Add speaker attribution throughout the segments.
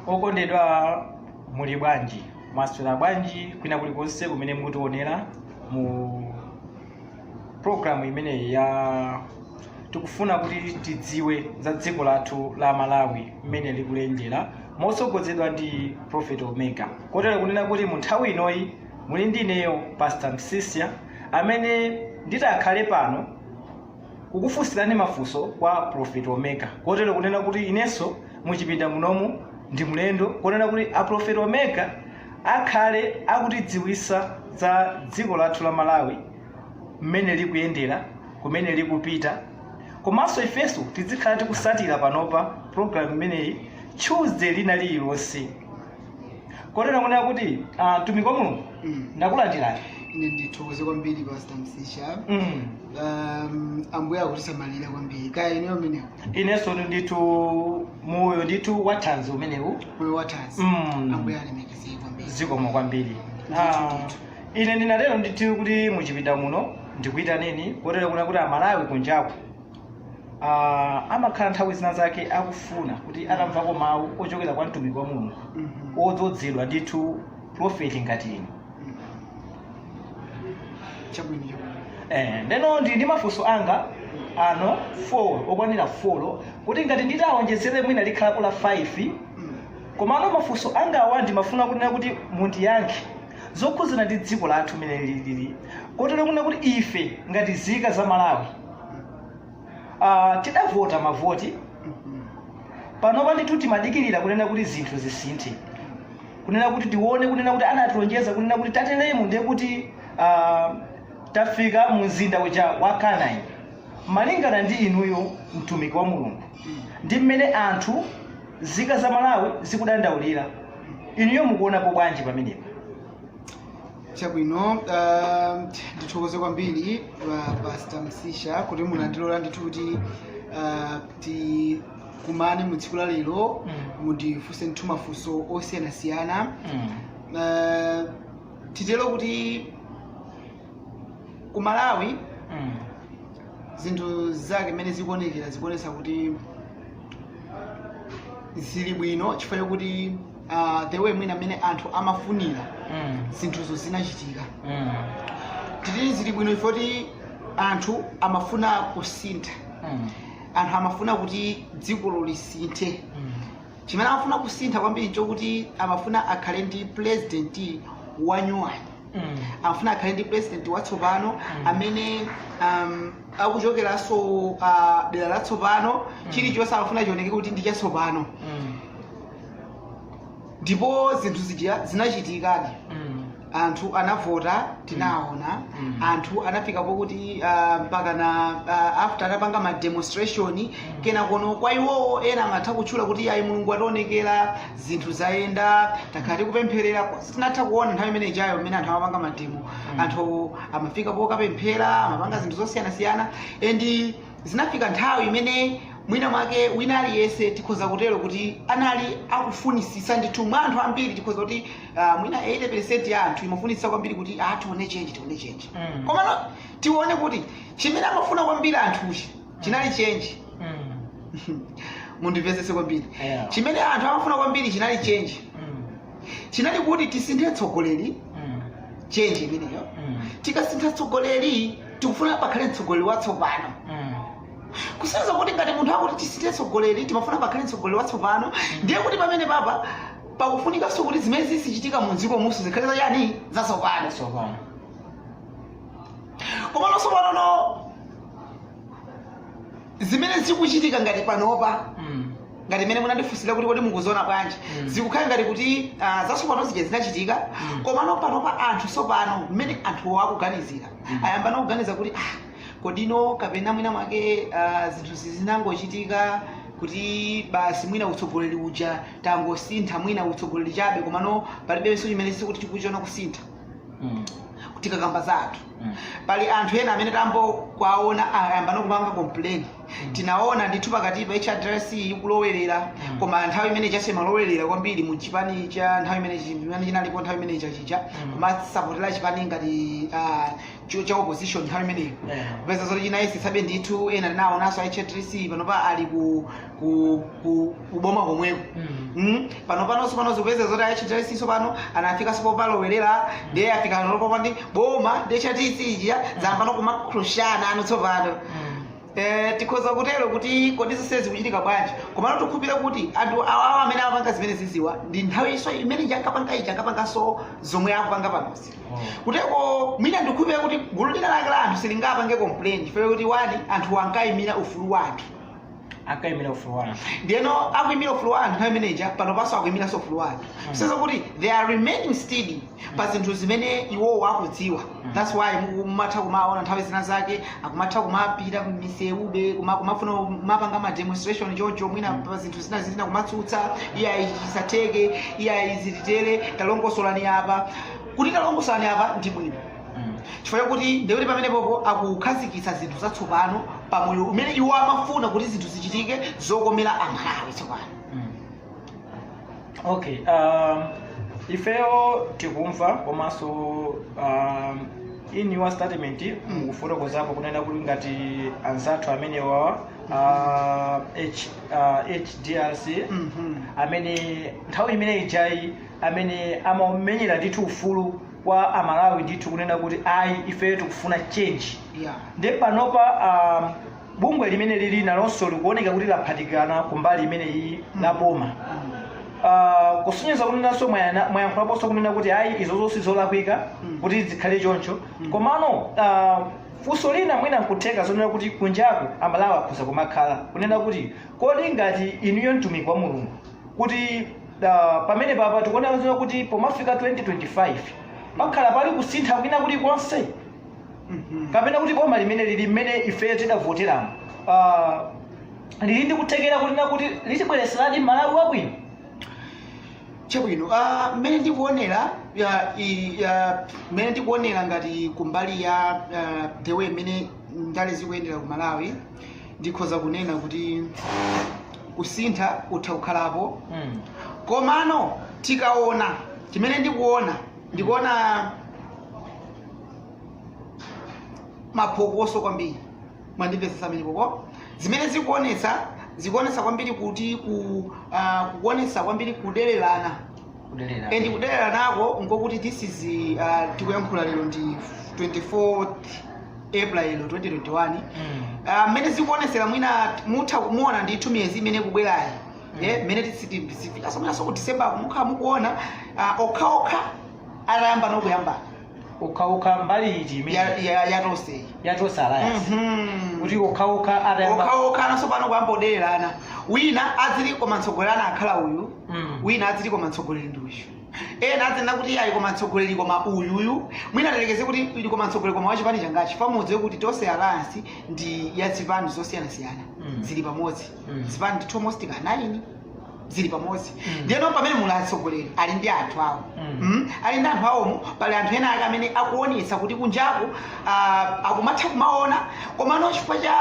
Speaker 1: okondedwa muli bwanji mwaswera bwanji kwina kulikonse kumene mukutionera mu programu imeneyi ya tikufuna kuti tidziwe za dziko lathu la malawi mmene likuyendera motsogozedwa ndi prophet omega kotero kunena kuti mu nthawi inoyi muli ndi ineyo pastor msisya amene nditakhale pano kukufunsirani mafunso kwa Prophet Omega kotero kunena kuti inenso muchipinda munomu ndi mlendo kunena kuti a Prophet Omega akhale akutidziwisa za dziko lathu la Malawi mmene likuyendera kumene likupita komanso ifenso tizikhala tikusatira panopa program imeneyi Tuesday lina lililonse kotero kunena kuti ah, mtumiki wa mulungu Mm. ndakulandirani ine
Speaker 2: ndithokoze kwambiri pastor msisha Mm. um, ambuye akutisamalira kwambiri kaya inuyo kumeneko inenso ndithu
Speaker 1: moyo ndithu wathanzi umenewu moyo wathanzi
Speaker 2: Mm. ambuye alemekezeke kwambiri zikomo
Speaker 1: kwambiri Ah, ine ndinatero ndithu kuti muchipinda muno ndikuyitaneni kotero kunena kuti amalawi kunjaku ah, amakhala nthawi zina zake akufuna kuti atamvako mawu ochokera kwa mtumiki wa mulungu Mhm. odzozedwa ndithu prophet ngati inu
Speaker 2: chabwino chabwino Eh, ndeno
Speaker 1: ndili ndi mafunso anga ano 4 okwanira 4 kuti ngati nditawonjezere mwina likhalapo la 5 Mm. komano mafunso angawa ndimafuna kunena kuti mundiyankhe zokhudzana ndi dziko lathu mmene lili kotero kunena kuti ife ngati zika za malawi Ah, tidavota mavoti panopa ndithu timadikirira kunena kuti zinthu zisinthe kunena kuti tione kunena kuti anatilonjeza kunena kuti tateremu ndiye kuti ah, tafika mu mzinda uja wa kanani malingana ndi inuyo mtumiki wa mulungu ndi mmene anthu zika za malawi zikudandaulira inuyo mukuonapo bwanji pamenepa chabwino
Speaker 2: uh, ndithokoze kwambiri uh, pastor msisha kuti munandilola ndithu kuti uh, tikumane mu tsiku la lero Mm. mundifunse ndithu mafunso osiyanasiyana Mm. uh, titero kuti ku malawi Mm. zinthu zake mmene zikuonekera zikuonesa kuti zili bwino chifukwa chakuti uh, the way mwina mmene anthu amafunira Mm. zinthuzo zinachitika Mm. titi zili bwino chifukwa kuti anthu amafuna kusintha Mm. anthu amafuna kuti dzikolo lisinthe Mm. chimene amafuna kusintha kwambiri nchokuti amafuna akhale ndi president wanyuwani Mm. amafuna akhale ndi president watsopano Mm. amene um, akuchokeranso uh, dera latsopano Mm. chilichonse amafuna chioneke kuti ndi chatsopano Mm. ndipo zinthu zija zinachitikadi Mm. anthu anavota tinaona Mm. anthu anafika pokuti ah, mpaka na ah, after anapanga ma demonstration kenakono kwa iwowo ena amatha kutchula kuti ayi mulungu wationekera zinthu zayenda takhala tikupempherera tinatha kuona nthawi imene ijayo imene anthu amapanga mademo anthu amafika pokapemphera amapanga zinthu zosiyanasiyana and zinafika nthawi imene mwina mwake wina aliyense tikhoza kutero kuti anali akufunisisa ndithu mwa anthu ambiri tikhoza kuti uh, mwina 80 ya anthu imafunisisa kwambiri kuti ah, tione change tione change Mm. komano tione kuti chimene amafuna kwambiri anthuchi chinali change Mm. mundimvesese kwambiri Yeah. chimene anthu amafuna kwambiri chinali change Mm. chinali kuti tisinthe mtsogoleri Mm. change imeneyo Mm. tikasintha mtsogoleri tikufuna pakhale mtsogoleri watsopano kusonyeza kuti ngati munthu akuti tisinthe mtsogoleri timafuna pakhale mtsogoleri watsopano ndiye kuti pamenepapa pakufunikanso kuti zimene zizichitika mu dzikomuso zikhale zachani zatsopano komano tsopanono zimene zikuchitika ngati panopa Mm. ngati mmene munandifunsira kuti kodi mukuziona bwanji Mm. zikukhala ngati kuti ah, zatsopano zija zinachitika Mm. komano panopa anthu sopano mmene anthuwo akuganizira Mm. ayambano kuganiza kuti ah, kodino kapena mwina mwake ah, zinthu zi zinangochitika kuti basi mwina utsogoleri uja tangosintha mwina utsogoleri chabe komano palibenso chimene titi tikuchiona kusintha Mm. tikakamba za anthu pali anthu ena amene tayamba kuwaona ayambano kupanga complain tinaona ndithu pakatipa hrdc ikulowerera koma nthawi imene ija simalowerera kwambiri mu chipani cha nthawi imene chi- imene chinalipo nthawi imene ija ija kumasapota chipani ngati ah, cho- cha opposition nthawi imeneyo Yeah. kupeza zoti chinayesetsabe ndithu ena tinaonanso hrdc panopa ali ku ku ku kuboma komweko Mm. Mm, pano pano sopano tikupeza zoti hrdc sopano anafikaso popalowerera ndiye afika analopopa ndi boma ndi hrdc ija zayambano kumakrashana pano tsopano Mm. Eh, tikhoza kutero kuti kodi zonse zikuchitika bwanji komano ndikhulupirire kuti anthu awawa amene amapanga zimenezizi wani nthawiso imene ija ankapanga ija ankapanganso zomwe akupanga panozi Oh. kuteko mwina ndikhulupirire kuti gulu lina lake la anthu silingapange complain chifukwa kuti wani anthu ankayimira ufulu wa anthu akaimira ufulu wa anthu ndiyeno akuimira ufulu wa anthu nthawi imeneja pano panso akuimiranso ufulu wa anthu kusonyeza kuti they are remaining steady pa zinthu zimene iwowo akudziwa thats why mu- mumatha kumaona nthawi zina zake akumatha kumapita m'misewumu kuma- kumafuna kumapanga ma demonstration choncho mwina pa zinthu zina zina kumatsutsa iyayi zisatheke iyayi izi zitere talongosolani apa kuti talongosolani apa ndi bwino chifukwa chakuti ndiye kuti pamenepopo akukhazikitsa zinthu zatsopano pa moyo umene iwo amafuna kuti zinthu zichitike zokomera amalawi tsopano
Speaker 1: okay um, ifeyo tikumva komanso um, in your statement mukufotokozapo kunena kuti ngati anzathu amenewa uh, H, uh, hdrc Mhm. amene nthawi imene ijayi amene amamenyera ndithu ufulu kwa amalawi ndithu kunena kuti ayi ifeyo tikufuna change Yeah. nde panopa um, bungwe limeneli nalonso likuoneka kuti laphatikana kumbali imeneyi ya boma Uh, kusonyeza kunenanso mwayana- mwayankhulaponso kunena kuti ayi izo zonse zolakwika Mm. kuti zikhale choncho Mm. komano uh, funso lina mwina nkutheka zonena kuti kunjaku amalawi akhoza kumakhala kunena kuti kodi ngati inuyo mtumiki wa mulungu kuti Da, pamenepapa tikuonera zina kuti pomafika 2025 pakhala pali kusintha kwina kulikonse kapena kuti boma limeneli mmene ifeyo tidavoteramo Ah, lili ndi kuthekera kunena kuti litibweretseradi malawi
Speaker 2: wabwino chabwino ah, mmene ndikuonera ya- i- ya- mmene ndikuonera ngati kumbali ya ah, the way mmene ndale zikuyendera ku malawi ndikhoza kunena kuti kusintha utha kukhalapo Mm. komano tikaona chimene ndikuona ndikuona maphokoso kwambiri mwandimvetsetsa mapokoso zimene zikuonetsa zikuonetsa kwambiri kuti ku ah, kuonetsa kwambiri kudelerana kudelera and kudeleranako nkokuti this is uh, tikuyankhula lero ndi 24 april 2021 Mm. Ah, mmene zikuonesera mwina mutha kumaona ndithu miyezi imene ikubwerayi Mm. Eh, mmene tizifikaso mwinaso ku december ko mukhala mukuona ah, okhaokha atayamba nokuyambana
Speaker 1: okhaokha mbali iti ya- imene ya- yatonseyi yatonse alliance Mhm. kuti okhaokha atayamba okhaokha nawonso pano kuyamba
Speaker 2: kudelerana wina aziti koma mtsogoleri anakakhala uyu Mm. wina aziti koma mtsogoleri ndi uyu ena azinena kuti ayi koma mtsogoleri koma uyuyu mwina tiyerekeze kuti ayi koma mtsogoleri koma wachipani changachi paja mudziwe kuti tonse alliance ndi ya zipani zosiyanasiyana Mm. zili pamodzi Mm. zipani ndi almost ka nine zili pamodzi Mm. ndiyeno pamene muli atsogoleri ali ndi anthu awo Mm. Mm? ali ndi anthu awomo pali anthu ena ake amene akuonetsa kuti kunjaku ah, akumatha kumaona komano chifukwa cha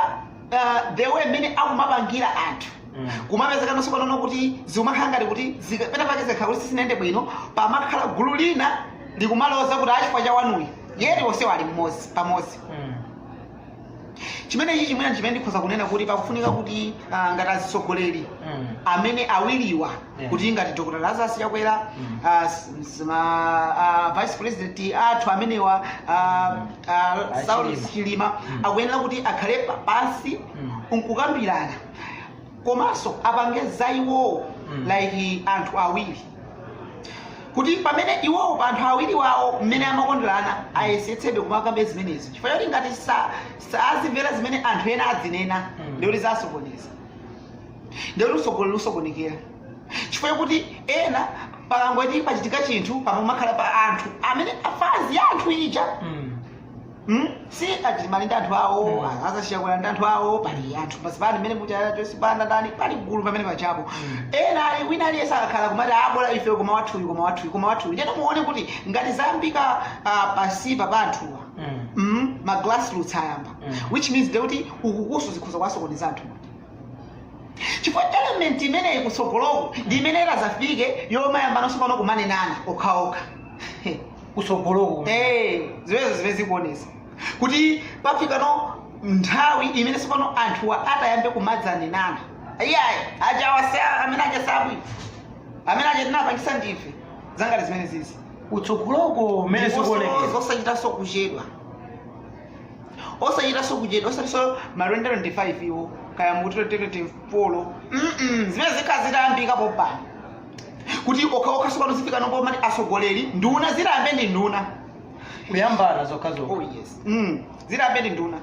Speaker 2: ah, the way mmene akumapangira anthu Mm. kumapezekanonso pang'ono kuti zikumakhala ngati kuti zika- pena pake zikhala kuti sizinayende bwino pamakhala gulu lina likumaloza kuti ah chifukwa cha wanuyu yeti onsewo ali mmodzi pamodzi Mm. chimene ichi chimene chimene ndikhoza kunena kuti pakufunika kuti ah, ngati azitsogoleri Mm. amene awiriwa Yeah. kuti ngati dr lazarus chakwera Mm. ah, s- s- ma- ah, vice president athu amenewa ah, ah, Ah, Saul Chilima. chilima Mm. akuyenera kuti akhale pa- pansi Mm. nkukambirana komanso apange za iwowo Mm. like anthu awiri kuti pamene iwowo pa anthu awiri wawo mmene amakondelana ayesetsebe kumakamba zimenezi chifukwa choti ngati sa- sa- azimvera zimene anthu ena adzinena Mm. nde kuti zasokoneza nde kuti usogoleri usokonekera chifukwa chokuti ena pakangoti pachitika chinthu pamakhala pa anthu amene a phazi ya anthu ija Mm. Hmm? si a chilima ali ndi anthu awo Mm. aza chakwera ndi anthu awo pali anthu pansipa ndi mmene muchaya chosipanda ndani pali gulu pamene pachapo Mm. ena ali wina aliyense akakhala kumati ah bola ife koma wathuyu koma wathuyu koma wathuyu ndiyeno muone kuti ngati zayambika ah, pansipa pa anthuwa Mm. mm, ma grassroots ayamba Mm. which means nde kuti ukukunso zikhoza kuwasokoneza anthu chifukwa element imeneyi kutsogoloko ndi imene itazafike yomayambana nso pano kumanenana okhaokha
Speaker 1: kutsogoloko kumene.
Speaker 2: Eh, zimenezo zimene zikuonesa kuti pafikano nthawi imene sopano anthuwa atayambe kumadzanenana iyayi ajawa sa amene aja sabwi amene aja tinapangisa ndife zangati zimenezizi kutsogoloko
Speaker 1: kumene Ndiponso sikuonekera zosachitanso
Speaker 2: kuchedwa osachitanso kuchedwa osatinso ma twente twente 5 iwo kaya mu twente twente fo zimene zikhala zitayambika pompano kuti okhaokha sopano zifikano pomati atsogoleri nduna ziyambe ndi nduna
Speaker 1: kuyambana zokhazokha oh yes
Speaker 2: mm. ziyambe ndi nduna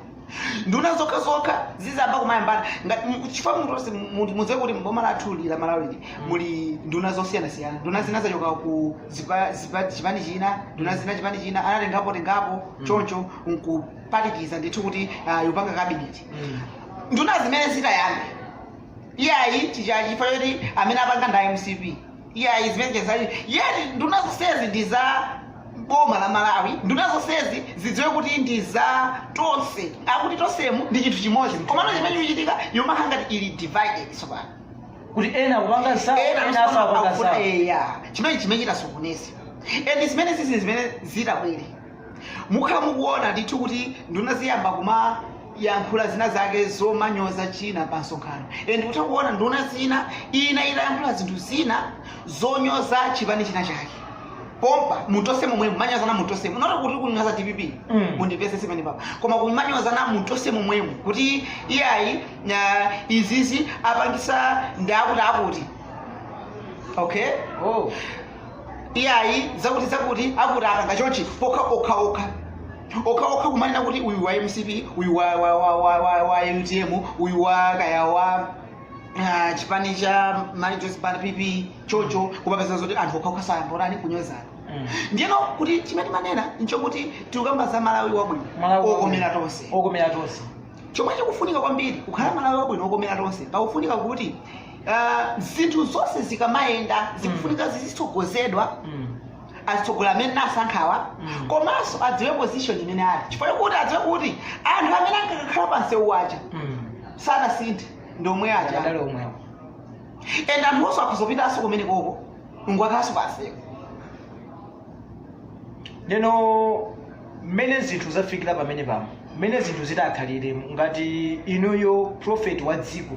Speaker 2: nduna zokhazokha zizayamba kumayambana ngati mu- chifukwa munthu onse mu- mudziwe kuti mboma lathu lili la malawili muli nduna zosiyanasiyana nduna zina zachoka ku zipa- zipa- chipani china nduna zina chipani china anatengapo tengapo Mm. choncho nkuphatikiza ndithu kuti ah, yopanga kabineti Mm. nduna zimene zitayambe iyayi chija chifukwa choti amene apanga ndi a mcp iyayi zimenezi zali yeti nduna zonsezi ndi za boma la malawi nduna zonsezi zidziwe kuti ndi za tonse akuti tonsemu ndi chinthu chimodzi komano chimene chikuchitika ikumakhala ngati ili divided tsopano kuti
Speaker 1: ena akupanga zawo ena enanso akupanga zawo eya chimene chimene
Speaker 2: chitasokoneza and zimenezizi zimene zitabwere mukhala mukuona ndithu kuti nduna ziyamba kumayankhula zina zake zomanyoza china pa msonkhano and ndikutha kuona nduna zina ina itayankhula zinthu zina zonyoza chipani china chake pompa mu Tonse momwe mumanyozana mu Tonse munaona kuti kunyoza dpp Mm. mundipese simene papa koma kumanyozana mu Tonse momwemo kuti iyayi ah, izizi apangisa ndi akuti akuti okay oh iyayi zakuti zakuti akuti akanga chonchi okha okha okha okha okha kumanena kuti uyu wa mcp uyu wa, wa, wa, wa, wa, wa utm uyu wa kaya wa ah, chipani cha mayi Joyce Banda pp choncho kumapeza zoti anthu okha okha ayambanso tani kunyozana Mm. ndiyeno kuti chimene timanena nchokuti tikukamba za malawi wabwino Malawi okomera wabwino. tonse okomera tonse chomwe chikufunika kwambiri kukhala malawi wabwino okomera tonse pakufunika kuti Ah, zinthu zonse zikamayenda zikufunika zizitsogozedwa Mm. azitsogola amene tinasankhawa Mm. komanso adziwe position imene ali chifukwa kuti adziwe kuti anthu amene ankakhala pansewu aja Mm. sanasinthe ndomwe aja Akadali omwewo. and anthunso akhoza kupitanso kumene koko kukakhalanso
Speaker 1: pansewu Ndeno mmene zinthu zafikira pamene pano mmene zinthu zitakhalire ngati inuyo prophet wa dziko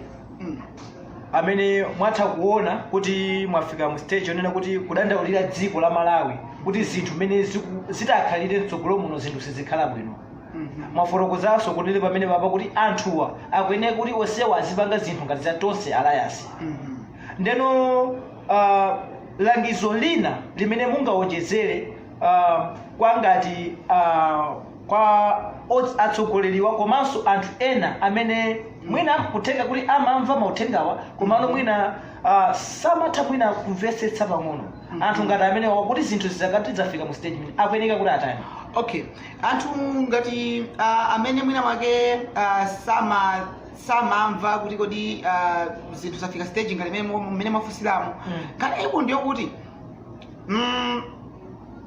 Speaker 1: amene mwatha kuona kuti mwafika mu stage yonena kuti kudandaulira dziko la malawi kuti zinthu mmene ziku- zitakhalire mtsogolo muno zinthu sizikhala bwino mwafotokozanso kuti pamene papa kuti anthuwa akuyeneka kuti onsewa azipanga zinthu ngati za tonse alliance ndeno uh, langizo lina limene mungawonjezere uh, kwa ngati uh, kwa ot- atsogoleriwa komanso anthu ena amene mwina kutheka kuti amamva mauthengawa komano mwina uh, samatha mwina kumvetsetsa pang'ono anthu ngati amenewa kuti zinthu zikati zafika mu stage imene akuyeneka kuti atani
Speaker 2: okay anthu ngati uh, amene mwina mwake uh, sama samamva kuti kodi uh, zinthu zafika stage ngati mmene mwa- mmene mwafunsiramo Mm. kana iku ndiyo kuti mm,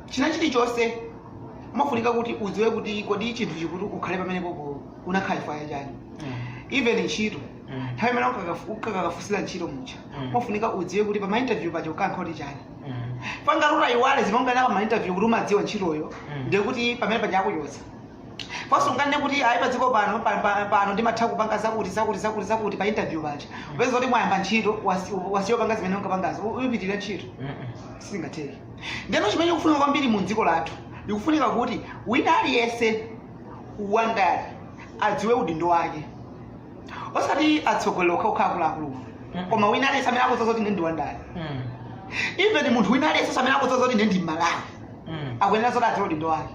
Speaker 2: china chilichonse umafunika kuti udziwe kuti kodi chinthu chikuti ukhale pamene popo unakhala chifukwa cha chani even ntchito Mm. nthawi imene ukakafu- ukakafunsira ntchito mucha Mm. umafunika udziwe kuti pama interview paja unkati kuti chani sungati utayiwala zimene unkanena pama interview kuti umadziwa ntchitoyo Mm. ndiye kuti pamene paja akuchotsa panso unkanena kuti ayi padziko pano pa- pa- pano ndimatha kupanga zakuti zakuti zakuti zakuti pa interview paja upeze kuti mwayamba ntchito wasi- wasiya kupanga zimene unkapangazo uyipitiriza ntchito sizingatheke ndeno chimene chikufunika kwambiri mu dziko lathu ndikufunika kuti wina aliyense wandale adziwe udindo wake osati atsogoleri okhaokha akuluakulu koma wina aliyense amene akudziwa zoti ine ndi wandale Mm. even munthu wina aliyense amene akudziwa zoti ine ndi mmalawi Mm. akuyenera zoti adziwe udindo wake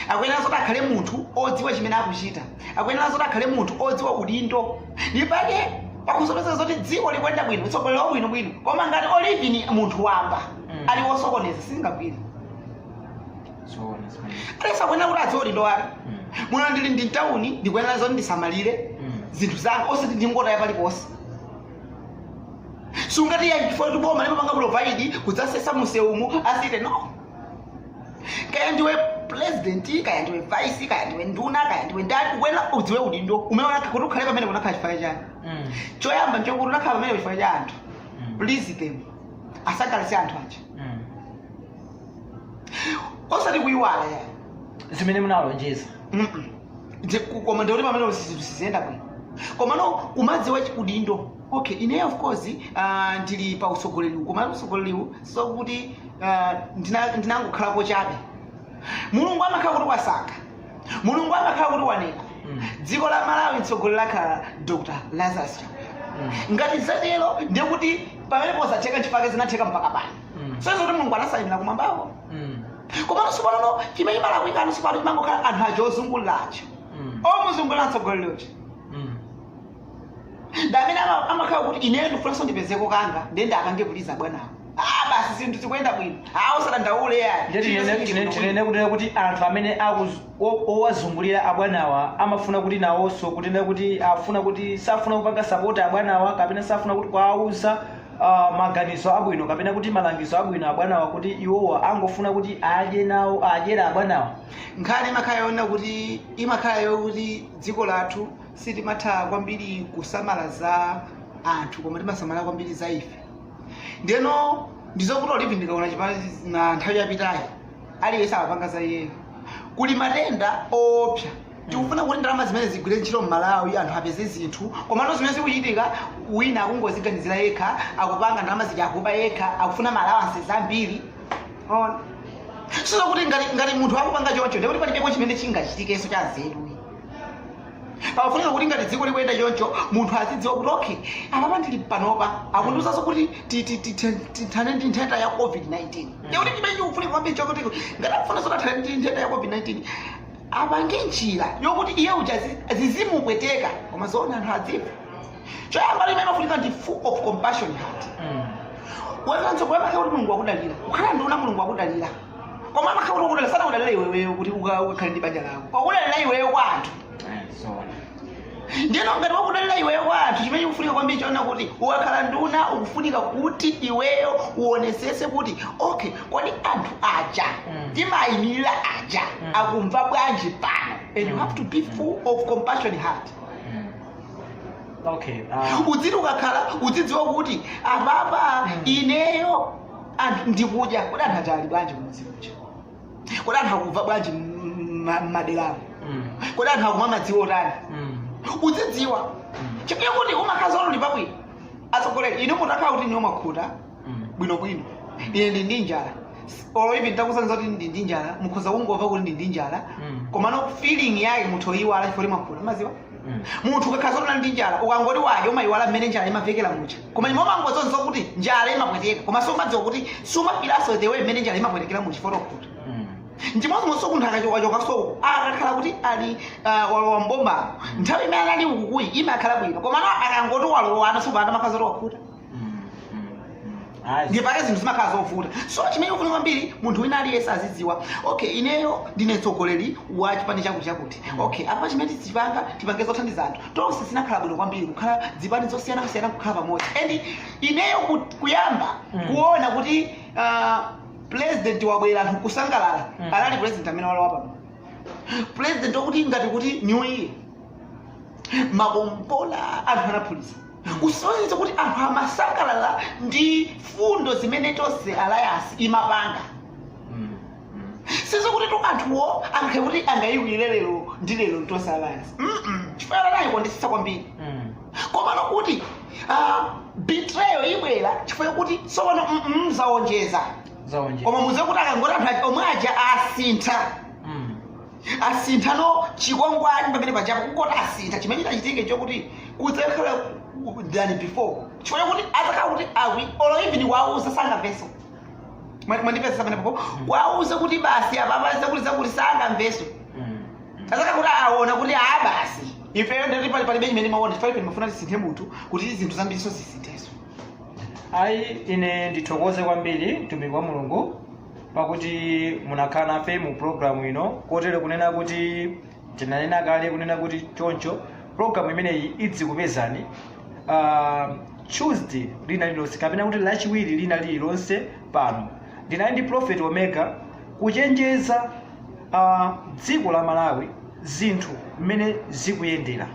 Speaker 2: akuyenera zoti akhale munthu odziwa chimene akuchita akuyenera zoti akhale munthu odziwa udindo ndi pake pakusonyeza zoti dziko likuyenda bwino utsogoleri uli bwinobwino koma ngati olo even munthu wamba Mm. ali wosokoneza singagwire Zoona zimene. aliyense akuyenera kuti adziwe udindo wake Mm. muno ndili ndi tawuni ndikuyenera zoti ndisamalire Mm. zinthu zanga osati ndingotaya paliponse siungati ya chifukwa kuti boma limapanga provide kudzasesa mumsewumu ayi no kaya ndiwe president kaya ndiwe vice kaya ndiwe nduna kaya ndiwe ndani ukuyenera udziwe udindo umene unakha- kuti ukhale pamene unakhala chifukwa chiyani Mm. choyamba nchokuti unakhala pamene chifukwa cha anthu Mm. please them asangalatse anthu aja Mm. osati kuyiwala ya zimene
Speaker 1: munawalonjeza Mm-mm. Ndi-
Speaker 2: ku- koma ndikuti pamene zinthu siziyenda bwino komano kumadziwa chi- udindo okay ineyo of course uh, ndili pa utsogoleriwu koma utsogoleriwu sokuti uh, ndina- ndinangokhalapo chabe mulungu amakhala kuti wasankha mulungu amakhala kuti wanena Mm. dziko la malawi mtsogoleri akhala dr lazarus chakwera Mm. ngati zatero ndiye kuti pamenepo zatheka nchifake zinatheka mpaka pano Mm. so izo kuti mulungu anasayinira kumwambako Mm. komano tsopanono chimene chimalakwikano tsopano chimangokhala anthu aja ozunguliracho Mm. omuzungulira mtsogoleri uja ndi amene ama- amakhala kuti ineyo ndikufunanso ndipezeko kanga ndiye ndikangopuliza abwanawo a basi zinthu zikuyenda bwino a musadandaule ayi Ndiye Chilichonse tinene- chili tinene-
Speaker 1: bwino. tinene kunena kuti anthu amene akuz- o- owazungulira abwanawa amafuna kuti nawonso kunena kuti afuna kuti safuna kupanga sapoti abwanawa kapena safuna kuti kuwawuza ah, maganizo abwino kapena kuti malangizo abwino abwanawa kuti iwowa angofuna kuti adye nawo adyere abwanawa nkhani imakhala
Speaker 2: yoona kuti imakhala yokuti dziko lathu sitimatha kwambiri kusamala za anthu koma timasamala kwambiri za ife ndeno ndizokuti olo even ndikaona chipani cha nthawi yapitayi aliyense amapanga za iyeyo kuli matenda oopsa tikufuna kuti ndalama zimenezi zigwire ntchito mmalawi anthu apeze zinthu komano zimene zikuchitika wina akungoziganizira yekha akupanga ndalama zija akuba yekha akufuna ma allowances ambiri ona sizokuti ngati ngati munthu akupanga choncho ndekuti palibepo chimene chingachitikenso cha nzeru pakufunika kuti ngati dziko likuyenda choncho munthu azidziwa kuti okay apapa ndili panopa akundiuzanso kuti ti- ti- ti- ti- tithane ndi nthenda ya covid-19 chakuti chimene chikufunika kwambiri chakuti ngati akufuna zoti athane ndi nthenda ya covid-19 apange njira yokuti iye uja zi- zizimupweteka koma zoona anthu adziwe choyamba chimene imafunika ndi full of compassion heart wezanso kuyamake kuti mulungu wakudalira kukhala nduna mulungu wakudalira koma amakhala kuti wakudalira sana kudalira iweyo kuti uka- ukakhale ndi banja lako wakudalira iweyo kwa anthu ndiyeno ngati wakudalira iweyo kwa anthu chimene chikufunika kwambiri choona kuti ukakhala nduna ukufunika kuti iweyo uonesese kuti okay kodi anthu aja Mm. timayimirira aja Mm. akumva bwanji pano and you have to be full of compassion heart okay
Speaker 1: ah. udziti ukakhala
Speaker 2: udzidziwa kuti apapa ineyo anthu ndikudya kodi anthu aja ali bwanji kumudzi kuja kodi anthu akuva bwanji mmaderamo Mm. kodi anthu akumwa madzi otani Mm. uzidziwa chifukwa kuti umakhala zoti olo uli pabwino atsogoleri ine mutakhala kuti inuyo mwakhuta Mm. bwinobwino ine ndili ndi njala olo ivi nditakusanza kuti ndili ndi njala mukhoza kungova kuti ndili ndi njala Mm. komano feeling yake mutha oyiwala chifukwa kuti mwakhuta maziwa munthu ukakhala zoti unali ndi njala ukangoti wadya umayiwala mmene njala imavekera muja koma iwe umangoziwa kuti njala imapweteka koma sumadziwa kuti sumafilaso the way mmene njala imapwetekera muja chifukwa chokuti nchimodzimodzinso munthu akachokachoka soko akakhala kuti ali ah, walowa m'boma nthawi imene anali ukukuyi imakhala bwino komano akangoti walowana sopanda amakhala zoti wakhuta Ayi. ndi chake zinthu zimakhala zovuta so chimene chikufunika kwambiri munthu wina aliyense azidziwa okay ineyo ndine mtsogoleri wa chipani chakuti chakuti okay apa chimene tidzipanga tipange zothandiza anthu tonse zinakhala bwino kwambiri kukhala zipani zosiyanasiyana kukhala pamodzi and ineyo ku- kuyamba Mm. kuona kuti ah, president wabwera anthu kusangalala Mm. anali president amene walowa pano president wakuti ngati kuti new year makombola anthu anaphulisa kusonyeza kuti anthu amasangalala ndi fundo zimene tonse alliance imapanga sizokutitu anthuwo angakhale kuti angayiwale lero ndi lero tonse alliance Mm-mm. chifukwa anayikondetsetsa kwambiri komano kuti ah, betrayal ibwera chifukwa kuti tsopano mm-mm, zaonjeza koma muziwe kuti akangoti anthu aja- omwe aja asintha asintha no chikwangwani pamene paja po kungoti asintha chimene chitachitike chokuti kudzakhala ku- than before chifukwa chakuti adzakhala kuti awi olo even wauza sangamvenso Mwa- mwandipeza pamene papo wauza kuti basi apapa zakuti zakuti sangamvenso adzakhala kuti aona kuti aa basi ifeyo ndati pali palibe chimene timaona chifukwa ife timafuna tisinthe munthu kuti zinthu zambirinso zisinthenso ayi
Speaker 1: ine ndithokoze kwambiri mtumiki wa mulungu pakuti munakhala nafe mu programu ino kotero kunena kuti tinanena kale kunena kuti choncho programu imeneyi idzikupezani uh, tuesday lina lilonse kapena kuti lachiwiri lina lililonse pano ndinali ndi prophet omega kuchenjeza uh, dziko la malawi zinthu mmene zikuyendera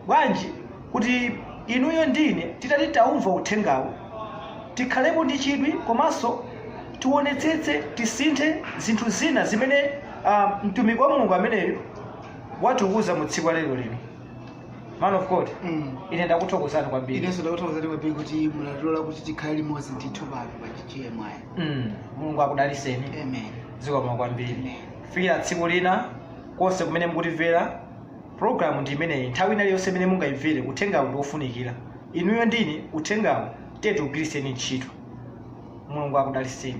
Speaker 1: bwanji kuti inuyo ndine titati taumva uthengawo tikhalepo ndi chidwi komanso tionetsetse tisinthe zinthu zina zimene uh, mtumiki wa mulungu ameneyo watiuza mu tsiku la lero lino man of god Mm. ine ndakuthokozani kwambiri inenso ndakuthokozani
Speaker 2: kwambiri kuti munatilola kuti tikhale limodzi ndithu pano pa gmi Mm, mulungu
Speaker 1: akudaliseni amen zikomo
Speaker 2: kwambiri
Speaker 1: Amen. kufikira tsiku lina konse kumene mukutimvera programu ndi imeneyi nthawi ina iliyonse imene mungayimvere uthengawo ndi wofunikira inuyo ndine uthengawo tiye tiugwiriseni ntchito mulungu akudaliseni